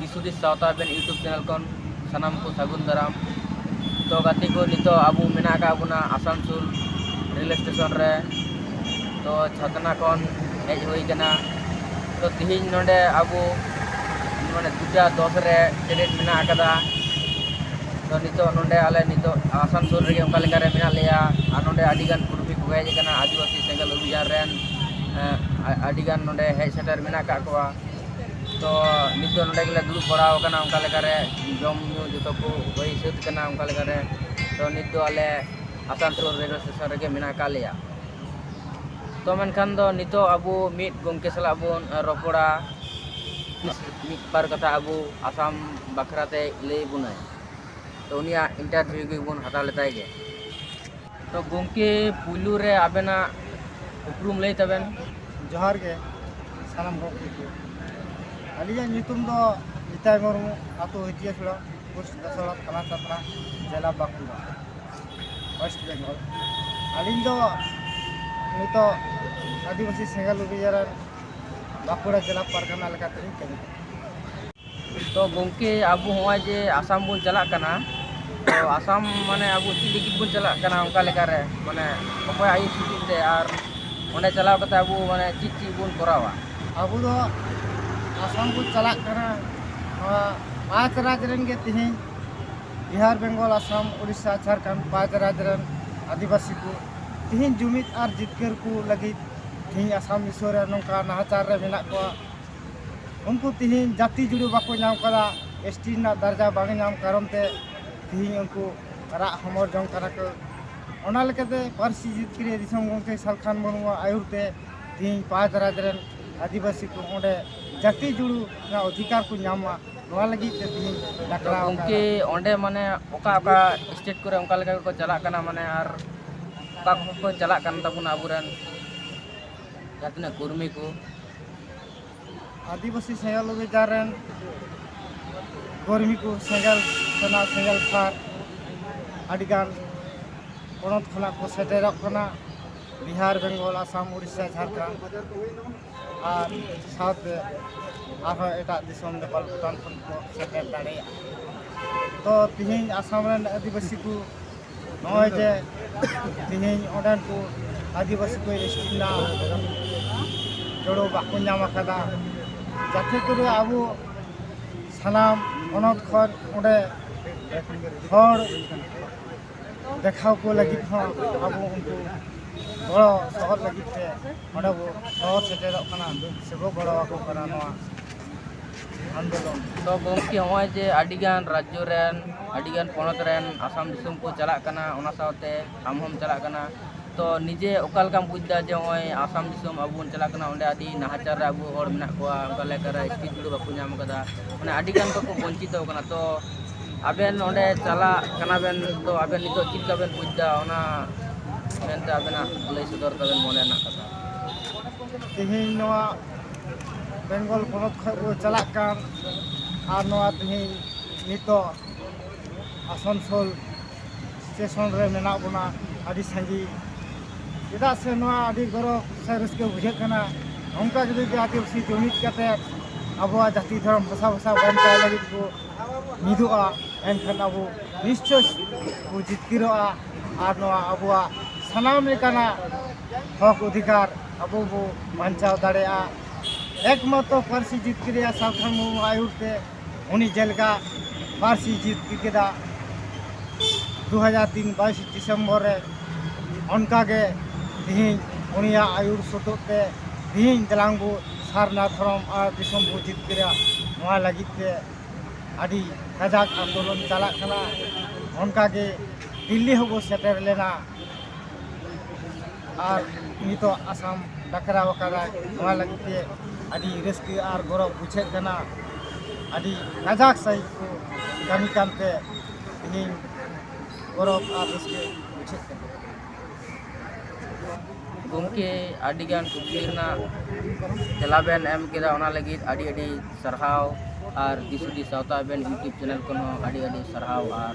ᱫᱤᱥᱩᱫᱤᱥ ᱥᱟᱶᱛᱟ ᱟᱵᱮᱱ YouTube channel ᱠᱷᱚᱱ ᱥᱟᱱᱟᱢ ᱠᱚ ᱥᱟᱹᱜᱩᱱ ᱫᱟᱨᱟᱢ ᱛᱚ ᱜᱟᱛᱮ ᱠᱚ ᱱᱤᱛᱚᱜ ᱟᱵᱚ ᱢᱮᱱᱟᱜ ᱟᱠᱟᱫ ᱵᱚᱱᱟ ᱟᱥᱟᱱᱥᱳᱞ ᱨᱮᱞ ᱥᱴᱮᱥᱚᱱ ᱨᱮ ᱛᱚ ᱪᱷᱟᱛᱱᱟ ᱠᱷᱚᱱ ᱦᱮᱡ ᱦᱩᱭ ᱠᱟᱱᱟ ᱛᱚ ᱛᱤᱦᱤᱧ ᱱᱚᱰᱮ ᱟᱵᱚ ᱢᱟᱱᱮ ᱫᱩᱴᱟ ᱫᱚᱥ ᱨᱮ ᱴᱨᱮᱱ ᱢᱮᱱᱟᱜ ᱟᱠᱟᱫᱟ ᱛᱚ ᱱᱤᱛᱚᱜ ᱱᱚᱰᱮ ᱟᱞᱮ ᱱᱤᱛᱚᱜ ᱟᱥᱟᱱᱥᱳᱞ ᱨᱮᱜᱮ ᱚᱱᱠᱟ ᱞᱮᱠᱟ ᱨᱮ ᱢᱮᱱᱟᱜ ᱞᱮᱭᱟ ᱟᱨ ᱱᱚᱰᱮ ᱟᱹᱰᱤ ᱜᱟᱱ ᱠᱩᱨᱢᱤ ᱠᱚ ᱦᱮᱡ ᱟᱠᱟᱱᱟ ᱟᱹᱫᱤᱵᱟᱹᱥᱤ ᱥᱮᱸᱜᱮᱞ ᱚᱵᱷᱤᱡᱟᱱ ᱨᱮᱱ ᱟᱹᱰᱤ ᱜᱟᱱ ᱱᱚᱰᱮ ᱦᱮᱡ ᱥᱮᱴᱮᱨ ᱢᱮᱱᱟᱜ ᱟᱠᱟᱫ ᱠᱚᱣᱟ ᱛᱚ ᱱᱤᱛ ᱫᱚ ᱱᱚᱰᱮ ᱜᱮᱞᱮ ᱫᱩᱲᱩᱵ ᱵᱟᱲᱟ ᱟᱠᱟᱱᱟ ᱚᱱᱠᱟ ᱞᱮᱠᱟᱨᱮ ᱡᱚᱢ ᱧᱩ ᱡᱚᱛᱚ ᱠᱚ ᱦᱩᱭ ᱥᱟᱹᱛ ᱟᱠᱟᱱᱟ ᱚᱱᱠᱟ ᱞᱮᱠᱟᱨᱮ ᱛᱚ ᱱᱤᱛ ᱫᱚ ᱟᱞᱮ ᱟᱥᱟᱱᱥᱳᱞ ᱨᱮᱞᱣᱮ ᱥᱴᱮᱥᱚᱱ ᱨᱮᱜᱮ ᱢᱮᱱᱟᱜ ᱟᱠᱟᱫ ᱞᱮᱭᱟ ᱛᱚ ᱢᱮᱱᱠᱷᱟᱱ ᱫᱚ ᱱᱤᱛᱚᱜ ᱟᱵᱚ ᱢᱤᱫ ᱜᱚᱢᱠᱮ ᱥᱟᱞᱟᱜ ᱵᱚᱱ ᱨᱚᱯᱚᱲᱟ ᱢᱤᱫ ᱵᱟᱨ ᱠᱟᱛᱷᱟ ᱟᱵᱚ ᱟᱥᱟᱢ ᱵᱟᱠᱷᱨᱟᱛᱮ ᱞᱟᱹᱭ ᱟᱵᱚᱱᱟᱭ ᱛᱚ ᱩᱱᱤᱭᱟᱜ ᱤᱱᱴᱟᱨᱵᱷᱤᱭᱩ ᱜᱮᱵᱚᱱ ᱦᱟᱛᱟᱣ ᱞᱮᱛᱟᱭ ᱜᱮ ᱛᱚ ᱜᱚᱢᱠᱮ ᱯᱩᱭᱞᱩ ᱨᱮ ᱟᱵᱮᱱᱟᱜ ᱩᱯᱨᱩᱢ ᱞᱟᱹᱭ ᱛᱟᱵᱮᱱ ᱡᱚᱦᱟᱨ ᱜᱮ ᱥᱟᱱᱟᱢ ᱦᱚᱲ ᱠᱚ ᱟᱹᱞᱤᱧᱟᱜ ᱧᱩᱛᱩᱢ ᱫᱚ ᱱᱤᱛᱟᱭ ᱢᱩᱨᱢᱩ ᱟᱛᱳ ᱦᱤᱛᱤᱭᱟ ᱪᱩᱲᱟ ᱯᱳᱥᱴ ᱫᱟᱥᱚᱲᱟ ᱛᱷᱟᱱᱟ ᱪᱟᱛᱨᱟ ᱡᱮᱞᱟ ᱵᱟᱸᱠᱩᱲᱟ ᱳᱭᱮᱥᱴ ᱵᱮᱝᱜᱚᱞ ᱟᱹᱞᱤᱧ ᱫᱚ ᱱᱤᱛᱚᱜ ᱟᱹᱫᱤᱵᱟᱹᱥᱤ ᱥᱮᱸᱜᱮᱞ ᱚᱵᱷᱤᱡᱟᱱ ᱵᱟᱸᱠᱩᱲᱟ ᱡᱮᱞᱟ ᱯᱟᱨᱜᱟᱱᱟ ᱞᱮᱠᱟᱛᱮᱞᱤᱧ ᱠᱟᱹᱢᱤ ᱠᱟᱱᱟ ᱛᱚ ᱜᱚᱢᱠᱮ ᱟᱵᱚ ᱱᱚᱜᱼᱚᱭ ᱡᱮ ᱟᱥᱟᱢ ᱵᱚᱱ ᱪᱟᱞᱟᱜ ᱠᱟᱱᱟ ᱛᱚ ᱟᱥᱟᱢ ᱢᱟᱱᱮ ᱟᱵᱚ ᱪᱮᱫ ᱞᱟᱹᱜᱤᱫ ᱵᱚᱱ ᱪᱟᱞᱟᱜ ᱠᱟᱱᱟ ᱚᱱᱠᱟ ᱞᱮᱠᱟᱨᱮ ᱢᱟᱱᱮ ᱚᱠᱚᱭᱟᱜ ᱟᱹᱭᱩᱨ ᱥᱩᱛᱩᱜ ᱛᱮ ᱟᱨ ᱚᱸᱰᱮ ᱪᱟᱞᱟᱣ ᱠᱟᱛᱮᱫ ᱟᱵᱚ ᱢᱟᱱᱮ ᱪᱮᱫ ᱪᱮᱫ ᱵᱚᱱ ᱠᱚᱨᱟᱣᱟ ᱟᱵᱚ ᱫᱚ ᱟᱥᱟᱢ ᱵᱚᱱ ᱪᱟᱞᱟᱜ ᱠᱟᱱᱟ ᱱᱚᱣᱟ ᱯᱟᱸᱪ ᱨᱟᱡᱽ ᱨᱮᱱ ᱜᱮ ᱛᱮᱦᱮᱧ ᱵᱤᱦᱟᱨ ᱵᱮᱝᱜᱚᱞ ᱟᱥᱟᱢ ᱩᱲᱤᱥᱥᱟ ᱡᱷᱟᱲᱠᱷᱚᱸᱰ ᱯᱟᱸᱪ ᱨᱟᱡᱽ ᱨᱮᱱ ᱟᱹᱫᱤᱵᱟᱹᱥᱤ ᱠᱚ ᱛᱮᱦᱮᱧ ᱡᱩᱢᱤᱫ ᱟᱨ ᱡᱤᱛᱠᱟᱹᱨ ᱠᱚ ᱞᱟᱹᱜᱤᱫ ᱛᱮᱦᱮᱧ ᱟᱥᱟᱢ ᱫᱤᱥᱚᱢ ᱨᱮ ᱱᱚᱝᱠᱟ ᱱᱟᱦᱟᱪᱟᱨ ᱨᱮ ᱢᱮᱱᱟᱜ ᱠᱚᱣᱟ ᱩᱱᱠᱩ ᱛᱤᱦᱤᱧ ᱡᱟᱹᱛᱤ ᱡᱩᱲᱩ ᱵᱟᱠᱚ ᱧᱟᱢ ᱠᱟᱫᱟ ᱮᱥ ᱴᱤ ᱨᱮᱱᱟᱜ ᱫᱟᱨᱡᱟ ᱵᱟᱝ ᱧᱟᱢ ᱠᱟᱨᱚᱱ ᱛᱮ ᱛᱤᱦᱤᱧ ᱩᱱᱠᱩ ᱨᱟᱜ ᱦᱚᱢᱚᱨ ᱡᱚᱝ ᱠᱟᱱᱟ ᱠᱚ ᱚᱱᱟ ᱞᱮᱠᱟᱛᱮ ᱯᱟᱹᱨᱥᱤ ᱡᱤᱛᱠᱟᱹᱨᱤᱭᱟᱹ ᱫᱤᱥᱚᱢ ᱜᱚᱢᱠᱮ ᱥᱟᱞᱠᱷᱟᱱ ᱢᱩᱨᱢᱩᱣᱟᱜ ᱟᱹᱭᱩᱨ ᱛᱮ ᱛᱤᱦᱤᱧ ᱯᱟᱸᱪ ᱨᱟᱡᱽ ᱨᱮᱱ ᱟᱹᱫᱤᱵᱟᱹᱥᱤ ᱠᱚ ᱚᱸᱰᱮ ᱡᱟᱹᱛᱤ ᱡᱩᱲᱩ ᱨᱮᱱᱟᱜ ᱚᱫᱷᱤᱠᱟᱨ ᱠᱚ ᱧᱟᱢ ᱢᱟ ᱱᱚᱣᱟ ᱞᱟᱹᱜᱤᱫ ᱛᱮ ᱛᱤᱦᱤᱧ ᱰᱟᱠᱨᱟ ᱜᱚᱢᱠᱮ ᱚᱸᱰᱮ ᱢᱟᱱᱮ ᱚᱠᱟ ᱚᱠᱟ ᱥᱴᱮᱴ ᱠᱚᱨᱮ ᱚᱱᱠᱟ ᱞᱮᱠᱟ ᱜᱮᱠᱚ ᱪᱟᱞᱟᱜ ᱠᱟᱱᱟ ᱢᱟᱱᱮ ᱟᱨ ᱚᱠᱟ ᱠᱚᱠᱚ ᱪᱟᱞᱟᱜ ᱠᱟᱱ ᱛᱟᱵᱚᱱᱟ ᱟᱵᱚᱨᱮᱱ ᱡᱟᱦᱟᱸ ᱛᱤᱱᱟᱹᱜ ᱠᱚᱨᱢᱤ ᱠᱚ ᱟᱹᱫᱤᱵᱟᱹᱥᱤ ᱥᱮᱸᱜᱮᱞ ᱚᱵᱷᱤᱡᱟᱱ ᱨᱮᱱ ᱠᱚᱨᱢᱤ ᱠᱚ ᱥᱮᱸᱜᱮᱞ ᱥᱮᱱᱟ ᱥᱮᱸᱜᱮᱞ ᱥᱟᱨ ᱟᱹᱰᱤᱜᱟᱱ ᱯᱚᱱᱚᱛ ᱠᱷᱚᱱᱟᱜ ᱠᱚ ᱥᱮᱴᱮᱨᱚᱜ ᱠᱟᱱᱟ ᱵᱤᱦᱟᱨ ᱵᱮᱝᱜᱚᱞ ᱟᱥᱟᱢ ᱩᱲᱤᱥᱥᱟ ᱡᱷᱟᱲᱠᱷᱚᱸᱰ ᱟᱨ ᱥᱟᱶᱛᱮ ᱟᱨᱦᱚᱸ ᱮᱴᱟᱜ ᱫᱤᱥᱚᱢ ᱱᱮᱯᱟᱞ ᱵᱷᱩᱴᱟᱱ ᱠᱷᱚᱱ ᱠᱚ ᱥᱮᱴᱮᱨ ᱫᱟᱲᱮᱭᱟᱜᱼᱟ ᱛᱚ ᱛᱮᱦᱮᱧ ᱟᱥᱟᱢ ᱨᱮᱱ ᱟᱹᱫᱤᱵᱟᱹᱥᱤ ᱠᱚ ᱱᱚᱜᱼᱚᱭ ᱡᱮ ᱛᱮᱦᱮᱧ ᱚᱸᱰᱮᱱ ᱠᱚ ᱟᱹᱫᱤᱵᱟᱹᱥᱤ ᱠᱚ ᱮᱥᱴᱤ ᱨᱮᱱᱟᱜ ᱡᱚᱲᱚ ᱵᱟᱠᱚ ᱧᱟᱢ ᱟᱠᱟᱫᱟ ᱡᱟᱛᱮ ᱠᱚᱨᱮ ᱟᱵᱚ ᱥᱟᱱᱟᱢ ᱦᱚᱱᱚᱛ ᱠᱷᱚᱱ ᱚᱸᱰᱮ ᱦᱚᱲ ᱫᱮᱠᱷᱟᱣ ᱠᱚ ᱞᱟᱹᱜᱤᱫ ᱦᱚᱸ ᱟᱵᱚ ᱩᱱᱠᱩ ᱜᱚᱲᱚ ᱥᱚᱦᱚᱫ ᱞᱟᱹᱜᱤᱫ ᱛᱮ ᱚᱸᱰᱮ ᱵᱚ ᱥᱚᱦᱚᱨ ᱥᱮᱴᱮᱨᱚᱜ ᱠᱟᱱᱟ ᱥᱮᱵᱚ ᱜᱚᱲᱚ ᱟᱠᱚ ᱠᱟᱱᱟ ᱱᱚᱣᱟ ᱟᱱᱫᱳᱞᱚᱱ ᱛᱚ ᱜᱚᱢᱠᱮ ᱱᱚᱜᱼᱚᱭ ᱡᱮ ᱟᱹᱰᱤ ᱜᱟᱱ ᱨᱟᱡᱽᱡᱚ ᱨᱮᱱ ᱟᱹᱰᱤ ᱜᱟᱱ ᱯᱚᱱᱚᱛ ᱨᱮᱱ ᱟᱥᱟᱢ ᱫᱤᱥᱚᱢ ᱠᱚ ᱪᱟᱞᱟᱜ ᱠᱟᱱᱟ ᱚᱱᱟ ᱥᱟᱶᱛᱮ ᱟᱢ ᱦᱚᱸᱢ ᱪᱟᱞᱟᱜ ᱠᱟᱱᱟ ᱛᱚ ᱱᱤᱡᱮ ᱚᱠᱟ ᱞᱮᱠᱟᱢ ᱵᱩᱡᱽ ᱮᱫᱟ ᱡᱮ ᱱᱚᱜᱼᱚᱭ ᱟᱥᱟᱢ ᱫᱤᱥᱚᱢ ᱟᱵᱚ ᱵᱚᱱ ᱪᱟᱞᱟᱜ ᱠᱟᱱᱟ ᱚᱸᱰᱮ ᱟᱹᱰᱤ ᱱᱟᱦᱟᱪᱟᱨ ᱨᱮ ᱟᱵᱚ ᱦᱚᱲ ᱢᱮᱱᱟᱜ ᱠᱚᱣᱟ ᱚᱱᱠᱟ ᱞᱮᱠᱟᱨᱮ ᱥᱴᱨᱤᱴ ᱡᱩᱲᱮ ᱵᱟᱠᱚ ᱧᱟᱢ ᱟᱠᱟᱫᱟ ᱢᱟᱱᱮ ᱟᱹᱰᱤ ᱜᱟᱱ ᱠᱚ ᱵᱚᱧᱪᱤᱛᱚ ᱟᱠᱟᱱᱟ ᱛᱚ ᱟᱵᱮᱱ ᱚᱸᱰᱮ ᱪᱟᱞᱟᱜ ᱠᱟᱱᱟ ᱵᱮᱱ ᱛᱚ ᱟᱵᱮᱱ ᱱᱤᱛᱚᱜ ᱪᱮᱫ ᱞᱮᱠᱟ ᱵᱮᱱ ᱵᱩᱡᱽ ᱮᱫᱟ ᱚᱱᱟ ᱢᱮᱱᱛᱮ ᱟᱵᱮᱱᱟᱜ ᱞᱟᱹᱭ ᱥᱚᱫᱚᱨ ᱛᱟᱵᱮᱱ ᱢᱚᱱᱮ ᱨᱮᱱᱟᱜ ᱠᱟᱛᱷᱟ ᱛᱮᱦᱮᱧ ᱱᱚᱣᱟ ᱵᱮᱝᱜᱚᱞ ᱯᱚᱱᱚᱛ ᱠᱷᱚᱱ ᱠᱚ ᱪᱟᱞᱟᱜ ᱠᱟᱱ ᱟᱨ ᱱᱚᱣᱟ ᱛᱮᱦᱮᱧ ᱱᱤᱛᱚᱜ ᱟᱥᱟᱱᱥᱳᱞ ᱥᱴᱮᱥᱚᱱ ᱨᱮ ᱢᱮᱱᱟᱜ ᱵᱚᱱᱟ ᱟᱹᱰᱤ ᱥᱟᱺᱜᱤᱧ ᱪᱮᱫᱟᱜ ᱥᱮ ᱱᱚᱣᱟ ᱟᱹᱰᱤ ᱜᱚᱨᱚᱵᱽ ᱥᱮ ᱨᱟᱹᱥᱠᱟᱹ ᱵᱩᱡᱷᱟᱹᱜ ᱠᱟᱱᱟ ᱱᱚᱝᱠᱟ ᱜᱮ ᱡᱩᱫᱤ ᱟᱹᱫᱤᱵᱟᱹᱥᱤ ᱡᱩᱢᱤᱫ ᱠᱟᱛᱮᱫ ᱟᱵᱚᱣᱟᱜ ᱡᱟᱹᱛᱤ ᱫᱷᱚᱨᱚᱢ ᱵᱷᱟᱥᱟ ᱵᱷᱟᱥᱟ ᱵᱟᱧᱪᱟᱣ ᱞᱟᱹᱜᱤᱫ ᱠᱚ ᱢᱤᱫᱚᱜᱼᱟ ᱮᱱᱠᱷᱟᱱ ᱟᱵᱚ ᱱᱤᱥᱪᱚᱭ ᱠᱚ ᱡᱤᱛᱠᱟᱹᱨᱚᱜᱼᱟ ᱟᱨ ᱱᱚᱣᱟ ᱟᱵᱚᱣᱟᱜ ᱥᱟᱱᱟᱢ ᱞᱮᱠᱟᱱᱟᱜ ᱦᱚᱸᱠ ᱚᱫᱷᱤᱠᱟᱨ ᱟᱵᱚ ᱵᱚ ᱵᱟᱧᱪᱟᱣ ᱫᱟᱲᱮᱭᱟᱜᱼᱟ ᱮᱠᱢᱟᱛᱨᱚ ᱯᱟᱹᱨᱥᱤ ᱡᱤᱛᱠᱟᱹᱨ ᱨᱮᱭᱟᱜ ᱥᱟᱞᱠᱷᱟᱱ ᱢᱩᱨᱢᱩ ᱟᱹᱭᱩᱨ ᱛᱮ ᱩᱱᱤ ᱡᱮᱞᱮᱠᱟ ᱯᱟᱹᱨᱥᱤ ᱡᱤᱛᱠᱟᱹᱨ ᱠᱮᱫᱟ ᱫᱩ ᱦᱟᱡᱟᱨ ᱛᱤᱱ ᱵᱟᱭᱤᱥ ᱰᱤᱥᱮᱢᱵᱚᱨ ᱨᱮ ᱚᱱᱠᱟᱜᱮ ᱛᱮᱦᱮᱧ ᱩᱱᱤᱭᱟᱜ ᱟᱹᱭᱩᱨ ᱥᱚᱛᱚᱜ ᱛᱮ ᱛᱮᱦᱮᱧ ᱫᱮᱞᱟᱝ ᱵᱚ ᱥᱟᱨᱱᱟ ᱫᱷᱚᱨᱚᱢ ᱟᱨ ᱫᱤᱥᱚᱢ ᱵᱚ ᱡᱤᱛᱠᱟᱹᱨᱟ ᱱᱚᱣᱟ ᱞᱟᱹᱜᱤᱫ ᱛᱮ ᱟᱹᱰᱤ ᱠᱟᱡᱟᱠ ᱟᱱᱫᱳᱞᱚᱱ ᱪᱟᱞᱟᱜ ᱠᱟᱱᱟ ᱚᱱᱠᱟᱜᱮ ᱫᱤᱞᱞᱤ ᱦᱚᱸᱵᱚ ᱥᱮᱴᱮᱨ ᱞᱮᱱᱟ ᱟᱨ ᱱᱤᱛᱚᱜ ᱟᱥᱟᱢ ᱰᱟᱠᱨᱟᱣ ᱟᱠᱟᱫᱟᱭ ᱱᱚᱣᱟ ᱞᱟᱹᱜᱤᱫ ᱛᱮ ᱟᱹᱰᱤ ᱨᱟᱹᱥᱠᱟᱹ ᱟᱨ ᱜᱚᱨᱚᱵᱽ ᱵᱩᱡᱷᱟᱹᱜ ᱠᱟᱱᱟ ᱟᱹᱰᱤ ᱠᱟᱡᱟᱠ ᱥᱟᱺᱦᱤᱡ ᱠᱚ ᱠᱟᱹᱢᱤ ᱠᱟᱱᱛᱮ ᱤᱧ ᱜᱚᱨᱚᱵᱽ ᱟᱨ ᱨᱟᱹᱥᱠᱟᱹ ᱵᱩᱡᱷᱟᱹᱜ ᱠᱟᱱᱟ ᱜᱚᱢᱠᱮ ᱟᱹᱰᱤᱜᱟᱱ ᱠᱩᱠᱞᱤ ᱨᱮᱱᱟᱜ ᱛᱮᱞᱟ ᱵᱮᱱ ᱮᱢ ᱠᱮᱫᱟ ᱚᱱᱟ ᱞᱟᱹᱜᱤᱫ ᱟᱹᱰᱤ ᱟᱹᱰᱤ ᱥᱟᱨᱦᱟᱣ ᱟᱨ ᱫᱤᱥ ᱦᱩᱫᱤᱥ ᱥᱟᱶᱛᱟ ᱟᱵᱮᱱ ᱤᱭᱩᱴᱩᱵᱽ ᱪᱮᱱᱮᱞ ᱠᱷᱚᱱ ᱦᱚᱸ ᱟᱹᱰᱤ ᱟᱹᱰᱤ ᱥᱟᱨᱦᱟᱣ ᱟᱨ